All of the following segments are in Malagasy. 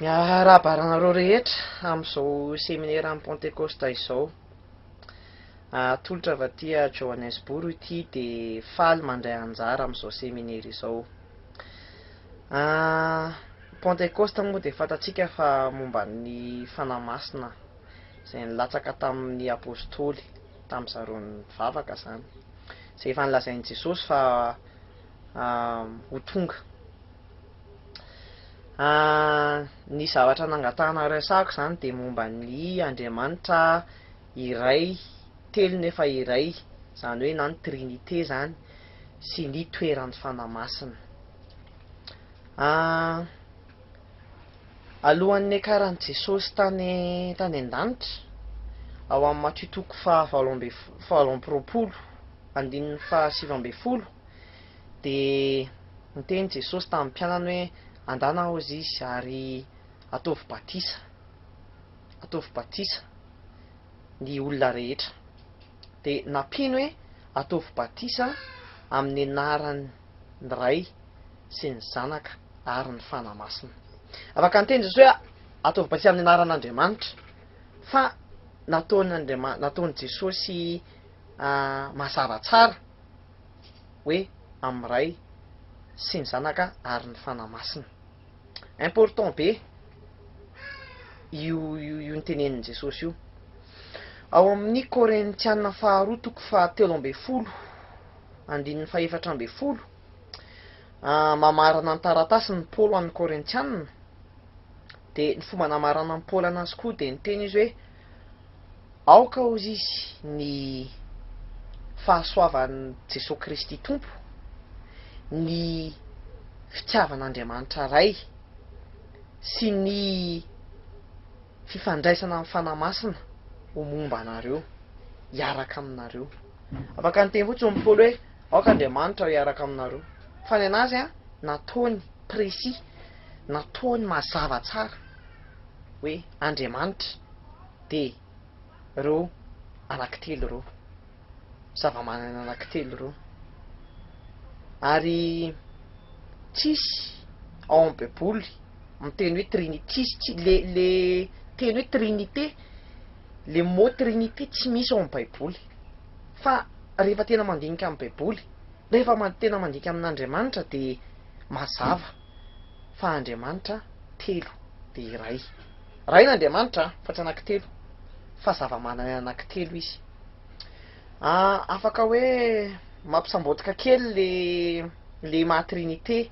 Miarahaba anareo rehetra amin'izao seminera Pantekosta izao. Atolotra avy aty Johannesburg ity dia faly mandray anjara amin'izao seminera izao. Pantekosta moa dia fantatsika fa momba ny Fanahy Masina izay nilatsaka tamin'ny Apostoly, tamin'ny zareo nivavaka izany. Izay efa nolazain'i Jesosy fa ho tonga. Ny zavatra nangatahana resahako izany dia momba ny Andriamanitra iray, telo nefa iray, izany hoe na ny Trinite izany, sy ny toeran'ny Fanahy Masina. Alohan'ny niakaran'i Jesosy tany tany an-danitra, ao amin'ny Matio toko fahavalo ambin'ny folo, andininy fahasivy ambin'ny folo, Dia niteny Jesosy tamin'ny mpianany hoe, Andana hozy izy ary ataovy batisa, ataovy batisa ny olona rehetra. Dia nampiany hoe, Ataovy batisa amin'ny anaran'ny Ray sy ny Zanaka ary ny Fanahy Masina. Afaka niteny Jesosy hoe, Ataovy batisa amin'ny anaran'Andriamanitra, fa nataon'i nataon'i Jesosy mazava tsara. hoe amin'ny Ray sy ny Zanaka ary ny Fanahy Masina. Important be io io notenenin'i Jesosy io. Ao amin'ny Korintiana faharoa toko fahatelo ambin'ny folo andininy fahefatra ambin'ny folo, mamarana ny taratasin'i Paolo an'ny Korintiana, dia ny fomba namaranan'i Paolo anazy koa dia niteny izy hoe, Aoka ho izy ny fahasoavan'i Jesoa Kristy Tompo, ny fitiavan'Andriamanitra Ray sy ny fifandraisana amin'ny Fanahy Masina ho momba anareo, hiaraka aminareo. Afaka niteny fotsiny ny Paoly hoe aoka Andriamanitra hiaraka aminareo. Fa ny anazy nataony précis, nataony mazava tsara hoe. Andriamanitra dia ireo anankitelo ireo, zavamanana anankitelo ireo. Ary tsisy ao amin'ny baiboly miteny hoe trinite, tsisy tsy le le teny hoe trinite, le mot trinite tsy misy ao amin'ny baiboly. Fa rehefa tena mandinika ny baiboly, rehefa tena mandinika amin'Andriamanitra dia mazava. fa Andriamanitra telo dia iray. Ray ny Andriamanitra fa tsy anankitelo fa zava-manana anankitelo izy. Afaka hoe mampisambotika kely le le maha trinite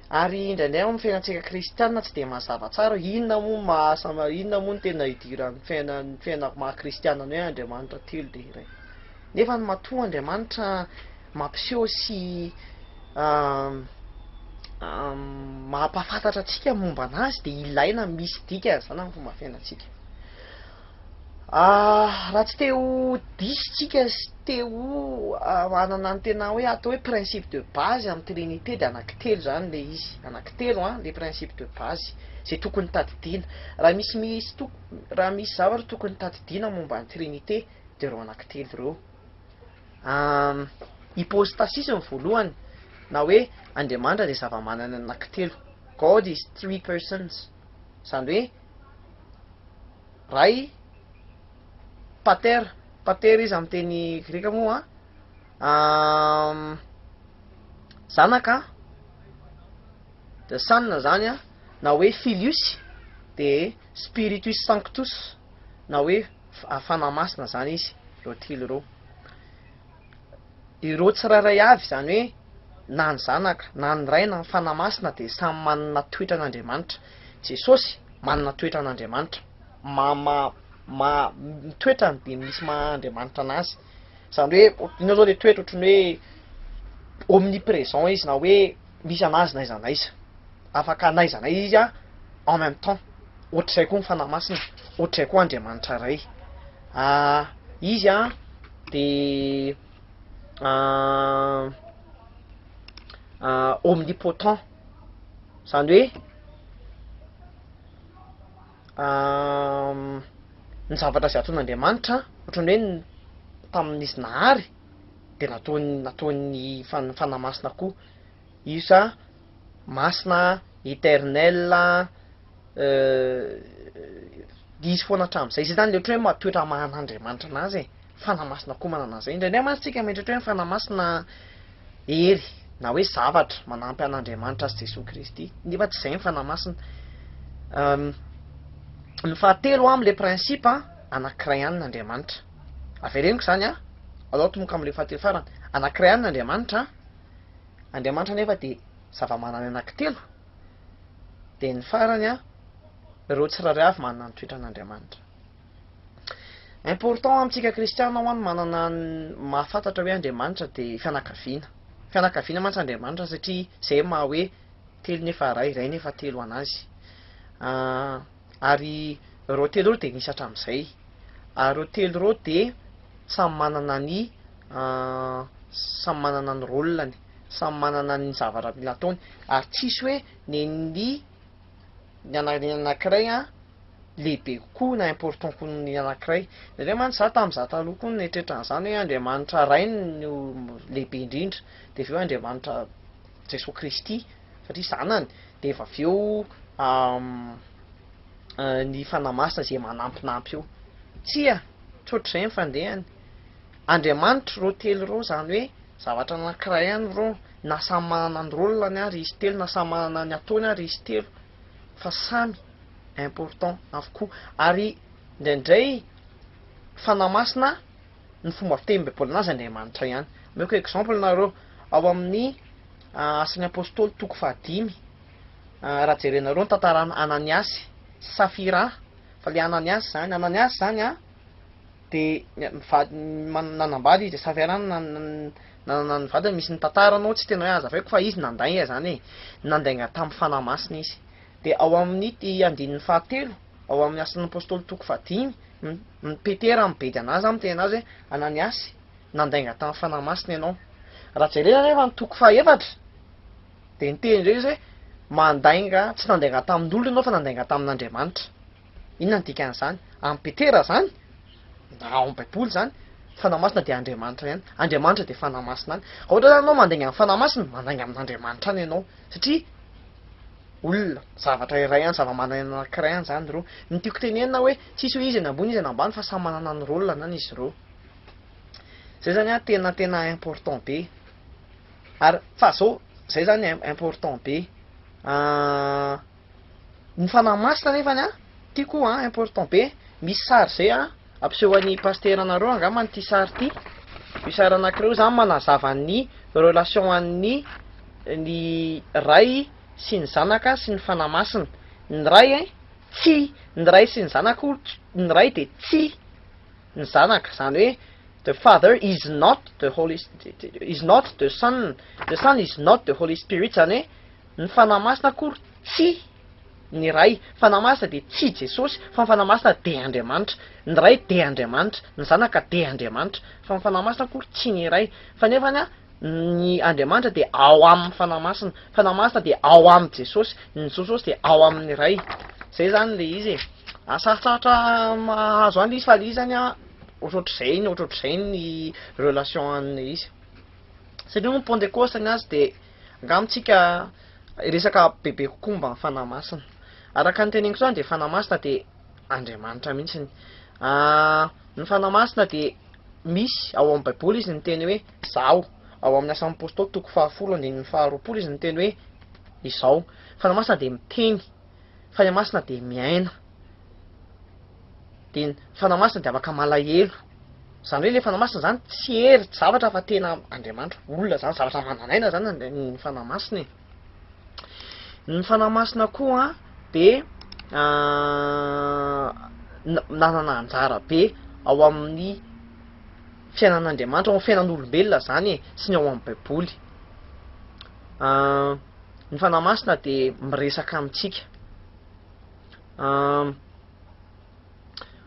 ary indraindray amin'ny fiainantsika kristiana tsy dia mazava tsara inona moa maha inona moa no tena idiran'ny fiainan'ny fiainako maha kristiana ny hoe Andriamanitra telo dia iray. Nefa ny matoa Andriamanitra mampiseho sy mampahafantatra antsika ny momba an'azy dia ilaina misy dikany izany amin'ny fomba fiainantsika. Raha tsy te ho diso isika sy te ho hanana ny tena hoe atao hoe principe de base amin'ny Trinite dia anankitelo izany ilay izy, anankitelo an, ilay principe de base izay tokony tadidiana. Raha misy misy toko, raha misy zavatra tokony tadidiana momba ny Trinite dia ireo anankitelo ireo. Am hypostasis ny voalohany na hoe Andriamanitra dia zava-manana anankitelo, God is three persons, izany hoe Ray, Pater, Pater izy amin'ny teny greka moa an, am Zanaka, the Son izany an, na hoe Filius, dia Spiritus Sanctus na hoe Fanahy Masina izany izy ireo telo ireo. Ireo tsirairay avy izany hoe na ny Zanaka na ny Ray na ny Fanahy Masina dia samy manana toetra an'Andriamanitra. Jesosy manana toetra an'Andriamanitra. Maha mitoetra dia misy maha Andriamanitra anazy. Izany hoe inona zao le toetra ohatran'ny hoe omnipresent izy na hoe misy anazy n'aiza n'aiza, afaka n'aiza n'aiza izy a en même temps, ohatr'izay koa ny Fanahy Masina, ohatr'izay koa Andriamanitra Ray. Izy a de omnipotent, zany hoe. ny zavatra izay ataon'Andriamanitra ohatran'ny hoe tamin'izy nahary dia nataony nataony fan- fanahy masina koa isa masina eternel dia izy foana hatramin'izay, izay zany le ohatran'ny hoe maha toetra maha an'Andriamanitra anazy e. Fanahy Masina koa manana an'izay. Indraindray mantsy tsika mieritreritra hoe ny Fanahy Masina hery na hoe zavatra manampy an'Andriamanitra sy Jesoa Kristy. Nefa tsy izay ny Fanahy Masina. Ny fahatelo amin'ny le principe anankiray ihany ny Andriamanitra. Avereniko izany an, alao tomoka amin'ny le fahatelo farany. Anankiray ihany ny Andriamanitra. Andriamanitra nefa dia zava-manana anankitelo. Dia ny farany an, ireo tsirairay avy manana ny toetran'Andriamanitra. Important amintsika kristiana ho'a ny manana ny mahafantatra hoe Andriamanitra dia fianakaviana. Fianakaviana mantsy Andriamanitra satria izay no maha hoe telo nefa iray, iray nefa telo an'azy. Ary ireo telo ireo dia nisy hatramin'izay. Ary ireo telo ireo dia samy manana ny samy manana ny rôle-ny, samy manana ny zavatra mila ataony ary tsisy hoe nen'ny ny anankiray lehibe kokoa na important koa ny anankiray. Nendrey mantsy za tamin'ny za taloha koa nieritreritra an'izany hoe Andriamanitra Ray no lehibe indrindra, dia avy eo Andriamanitra Jesoa Kristy satria zanany, dia avy eo ny Fanahy Masina izay manampinampy eo. Tsia, tsy ohatr'izay ny fandehany. Andriamanitra ireo telo ireo izany hoe zavatra anankiray ihany ireo, na samy manana ny rôle-ny ary izy telo, na samy manana ny ataony ary izy telo fa samy. important avokoa ary indraindray fanahy masina ny fomba fiteny baiboly anazy Andriamanitra ihany omeko exemple nareo ao amin'ny asan'ny apostoly toko fahadimy raha jerenareo ny tantaran'i Ananiasy sy Safira fa le Ananiasy zany Ananiasy zany an de nanambady izy de Safira nanana ny vadiny misy ny tantaranao tsy tena hoe azavaiko fa izy nandainga zany e nandainga tamin'ny fanahy masina izy dia ao amin' ity andininy fahatelo ao amin' ny Asan' ny Apôstôly toko fahadimy, ny Petera mibedy an' azy izany miteny an' azy hoe, Ananiasy, nandainga tamin' ny Fanahy Masina ianao. Raha jerena anefa ny toko fahefatra dia niteny indray izy hoe, Mandainga, tsy nandainga tamin' olona ianao fa nandainga tamin' Andriamanitra. Inona no dikan'izany? Amin'i Petera izany, na ao amin'ny Baiboly izany, ny Fanahy Masina dia Andriamanitra ihany. Andriamanitra dia Fanahy Masina any. Raha ohatra izany ianao mandainga amin'ny Fanahy Masina, mandainga amin'Andriamanitra any ianao. Satria olona, zavatra iray ihany, zava-mananaina anankiray ihany izany ireo. Ny tiako tenenina hoe tsisy hoe iza no ambony iza no ambany fa samy manana ny rôle-nany izy ireo. Izay izany an, tena tena important be. Ary fa izao, izay izany important be. Ny fanahy masina nefany an, tiako an, important be, misy sary zay an, ampiseho an'i Pasitera anareo angamba ity sary ity, io sary anankiray io, izany manazava ny relation an'ny ny Ray sy ny Zanaka sy ny Fanahy Masina, ny Ray an, tsy ny Ray sy ny Zanaka hono, ny Ray dia tsy ny Zanaka, izany hoe the Father is not the Holy, is not the Son, the Son is not the Holy Spirit, izany hoe, Ny Fanahy Masina akory tsy ny Ray. Ny Fanahy Masina dia tsy i Jesosy, fa ny Fanahy Masina dia Andriamanitra. Ny Ray dia Andriamanitra, ny Zanaka dia Andriamanitra, fa ny Fanahy Masina akory tsy ny Ray. Fa nefany an, ny Andriamanitra dia ao amin' ny Fanahy Masina. Ny Fanahy Masina dia ao amin' i Jesosy, ny Jsosy dia ao amin' ny Ray. Izay izany ilay izy e. Sarotsarotra mahazo an' ilay izy fa ilay izy izany an, ohatrohatr'izay ny ohatrohatr'izay ny relation an' ilay izy. Satria moa ny Pentecoste ny azy dia. Angaha amintsika resaka bebe kokoa momba ny Fanahy Masina. Araka ny teneniko izany dia Fanahy Masina dia Andriamanitra mihitsy. Ny Fanahy Masina dia misy ao amin'ny Baiboly izy ny teny hoe Izaho. Ao amin'ny Asan'ny Apostoly toko fahafolo andininy faharoapolo izy ny teny hoe Izaho. Fanahy Masina dia miteny. Fanahy Masina dia miaina. dia ny Fanahy Masina dia afaka malahelo. Izany hoe ilay Fanahy Masina izany tsy hery, tsy zavatra fa tena Andriamanitra, olona izany, zavatra manan'aina izany ny Fanahy Masina e. Ny Fanahy Masina koa dia ah, nanana anjara be ao amin'ny fiainan'Andriamanitra, ao amin'ny fiainan'olombelona izany e, sy ny ao amin'ny Baiboly. Ah, ny Fanahy Masina dia miresaka amintsika.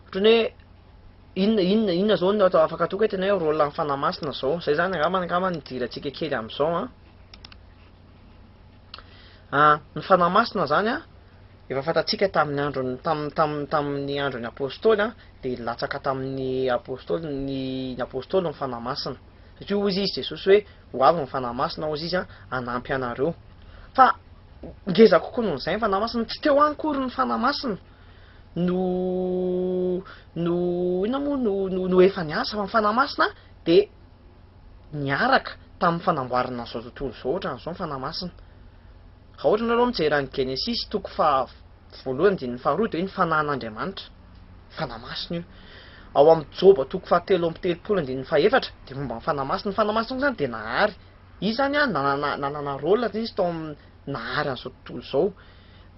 Ohatran'ny hoe inona inona inona zao no atao afaka atoka tena hoe rôle an'ny fanahy masina zao. Zay zany angamba angamba no idirantsika kely amin'izao an. Ah, ny fanahy masina zany an, efa fantatsika tamin'ny andron'ny tamin'ny tamin'ny tamin'ny andron'ny apôstôly an, dia latsaka tamin'ny apôstôly ny ny apôstôly ny fanahy masina. Satria hoy izy Jesosy hoe Ho avy ny Fanahy Masina, hozy izy, hanampy anareo. Fa ngeza kokoa noho izay ny Fanahy Masina. Tsy teo any akory ny Fanahy Masina no, no, inona moa no, no, no efa niasa, fa ny Fanahy Masina dia niaraka tamin'ny fanamboarana an'izao tontolo izao, ohatran'izao ny Fanahy Masina. Raha ohatra ianareo mijery any Genesisy toko faha voalohany andininy faha roa dia hoe ny fanahin'Andriamanitra, Fanahy Masina io. Ao amin'ny Joba toko faha telo amby telopolo andininy faha efatra dia momba ny Fanahy Masina. Ny Fanahy Masina koa izany dia nahary. Izy izany an, nanana nanana rôle izy tao amin'ny nahary an'izao tontolo izao.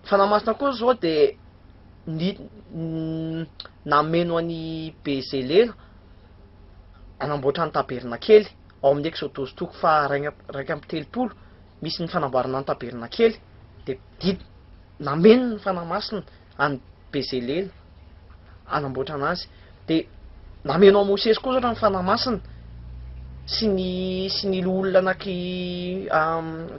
Ny Fanahy Masina koa izao dia ny nameno an'i Bezélera hanamboatra ny tabernakely ao amin'ny Eksodosy toko faha raika raika amby telopolo. misy ny fanamboarana ny tabernakely, dia didy, nameno ny Fanahy Masina an'i Bezalele hanamboatrana azy, dia nameno an'i Mosesy koa ohatra ny Fanahy Masina sy ny sy ny loholona anaky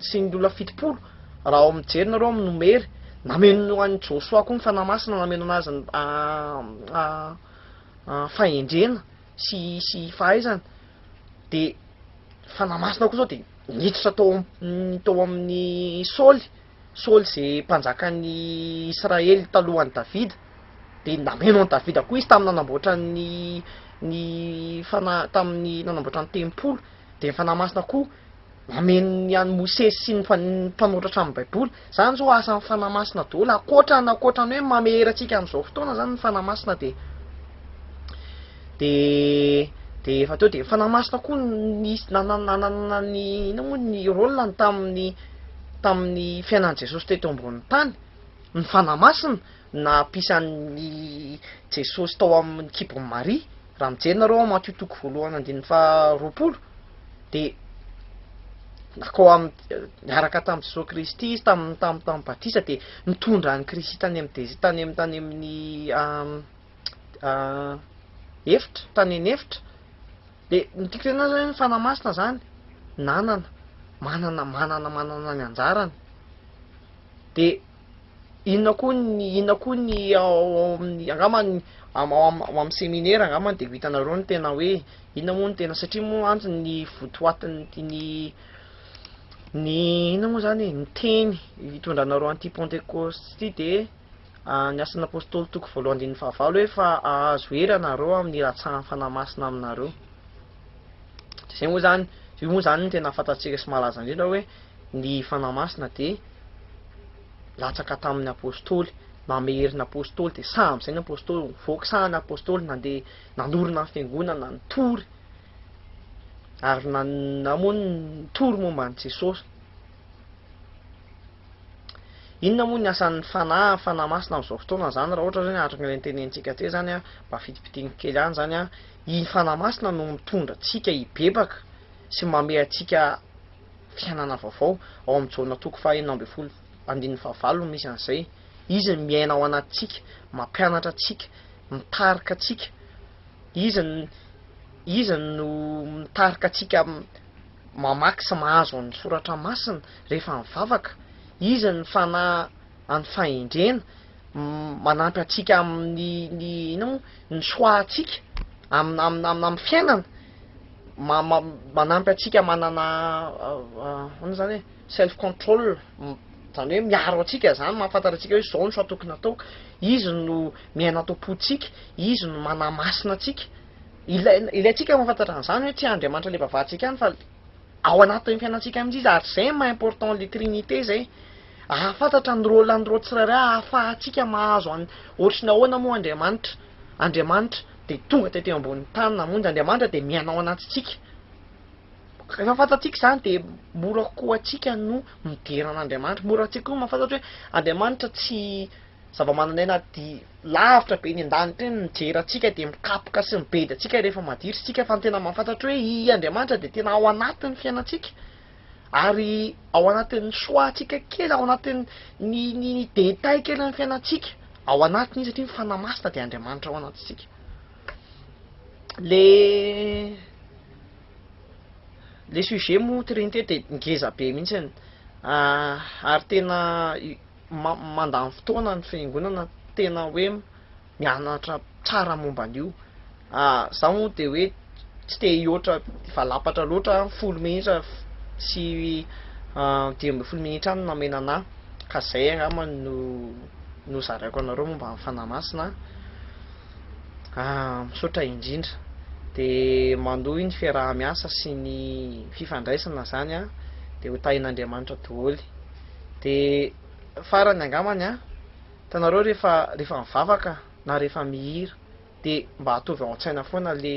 sy ny loholona fitopolo raha ao mijery nareo amin'ny Nomery, nameno an'i Josoa koa ny Fanahy Masina nameno anazy fahendrena. sy sy fahaizana de fanahy masina koa zao de niditra tao amin'ny tao amin'ny Saoly Saoly ze mpanjakan'ny Israely talohan'i Davida de nameno an'i Davida koa izy tamin'ny nanamboatra ny ny fanahy tamin'ny nanamboatra ny tempoly de ny fanahy masina koa nameno ny an'i Mosesy sy ny mpanoratra amin'ny Baiboly. Izany izao asan'ny Fanahy Masina daholo. Ankoatra ny ankoatra ny hoe mamehery antsika amin'izao fotoana izany ny Fanahy Masina dia dia dia efa teo dia ny Fanahy Masina koa nisy nanana ny inona moa ny rôle-ny tamin'ny tamin'ny fiainan'i Jesosy teto ambonin'ny tany. Ny Fanahy Masina nampisan'i Jesosy tao amin'ny kibon'i Maria. Raha mijery nareo ao Matio toko voalohany andininy faharoapolo. dia nakao am niaraka tamin'i Jesoa Kristy izy tam tam tam batisa dia nitondra an'i Kristy tany amin'ny desi tany amin'ny tany amin'ny efitra tany eny efitra dia ny tiako tenenina zany hoe ny fanahy masina zany nanana manana manana manana ny anjarany dia Inona koa ny inona koa ny ao amin'ny angamba ny am- ao am- ao amin'ny seminera angamba dia ho hitanareo ny tena hoe inona moa ny tena satria moa mantsy ny votoatin'ny ny ny inona moa izany e? ny teny hitondranareo an'ity Pentecoste ity dia ny Asan'ny Apôstôly toko voalohany andininy fahavalo hoe fa hahazo hery ianareo amin'ny hilatsahan'ny Fanahy Masina aminareo. Dia izay moa izany, io moa izany no tena fantatsika sy malaza indrindra hoe Ny Fanahy Masina dia latsaka tamin' ny Apôstôly, nameherin' ny Apôstôly, dia sahy amin' izay ny Apôstôly nivoaka, sahy ny Apôstôly nandeha nanorina ny Fiangonana, nitory ary nanana moa ny nitory momba an' i Jesôsy. Inona moa ny asan' ny Fanahy, Fanahy Masina amin' izao fotoana izany, raha ohatra izany araka ny notenenintsika teo izany an, mba fitipitihiko kely any izany an, iny Fanahy Masina no mitondra antsika hibebaka sy mamehy antsika, Fiainana vaovao, ao amin'i Jaona toko faha enina ambin'ny folo andininy faha valo no misy an'izay. Izy no miaina ao anatintsika, mampianatra antsika, mitarika antsika. Izy no, Izy no mitarika antsika mamaky sy mahazo ny Soratra Masina rehefa mivavaka. Izy no Fanahy. an'ny fahendrena, manampy antsika amin'ny ny inona moa, ny choix antsika am- am- amin'ny fiainana, ma- ma- manampy antsika manana inona zany hoe self control, zany hoe miaro antsika zany, mahafantatra antsika hoe zao ny choix tokony ataoko, izy no miaina ato am-pontsika, izy no manamasina antsika, ilaina, ilaintsika mahafantatra an'zany hoe tsy Andriamanitra le vavantsika ihany fa ao anatin'ny fiainantsika mihitsy izy, ary zay maha important le trinité zay. Ahafantatra ny rôle an'ireo tsirairay ahafahantsika mahazo an'i Ohatry ny ahoana moa Andriamanitra? Andriamanitra dia tonga teto ambonin'ny tany namonjy, Andriamanitra dia miaina ao anatintsika. Rehefa fantatsika izany dia mora kokoa ho antsika no midera an'Andriamanitra, mora antsika koa mahafantatra hoe Andriamanitra tsy zava-manan'aina aty lavitra be eny an-danitra eny mijery antsika dia mikapoka sy mibedy antsika rehefa maditra isika fa ny tena mahafantatra hoe i Andriamanitra dia tena ao anatin'ny fiainantsika. Ary ao anatin'ny soatsika kely, ao anatin'ny ny ny détails kelin'ny fiainantsika, ao anatiny izy satria ny Fanahy Masina dia Andriamanitra ao anatintsika. Le le sujet moa trinité dia ngeza be mihitsy ary tena mandany fotoana ny fiangonana tena hoe mianatra tsara momba an'io za moa de hoe tsy te hihoatra valapatra loatra aho folo minitra sy dimy ambin'ny folo minitra any no namena anah ka zay angamba no nozaraiko anareo momba ny fanahy masina ah misaotra indrindra de manohy ny fiaraha-miasa sy ny fifandraisana zany an de ho tahin'Andriamanitra doholy de farany angambany an Hitanareo rehefa rehefa mivavaka na rehefa mihira de mba atovy ao an-tsaina foana le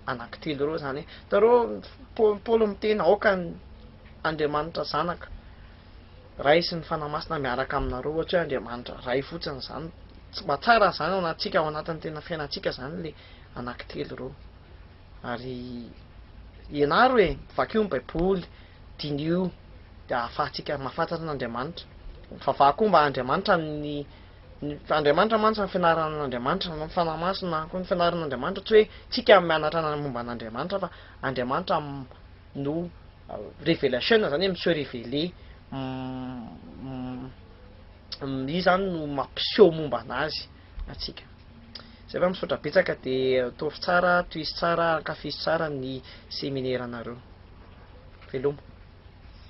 anankitelo ireo zany hoe hitanareo Paoly Paoly miteny aoka ny Andriamanitra Zanaka Ray sy ny Fanahy Masina miaraka aminareo ohatra hoe Andriamanitra Ray fotsiny zany mba tsara zany ao anatintsika ao anatin'ny tena fiainantsika zany le anankitelo ireo. Ary ianaro e, vakio ny baiboly, diniho dia ahafahantsika mahafantatra an'Andriamanitra. Mivavaha koa mba Andriamanitra ny Andriamanitra mantsy ny fianarana an'Andriamanitra, ny fanahy masina koa ny fianarana an'Andriamanitra, tsy hoe tsika mianatra momba an'Andriamanitra fa Andriamanitra no revelation zany hoe mi se reveler izy zany no mampiseho momba anazy. antsika. Zay fa misaotra betsaka de ataovy tsara tohizo tsara ankafizo tsara ny seminaire nareo. Veloma.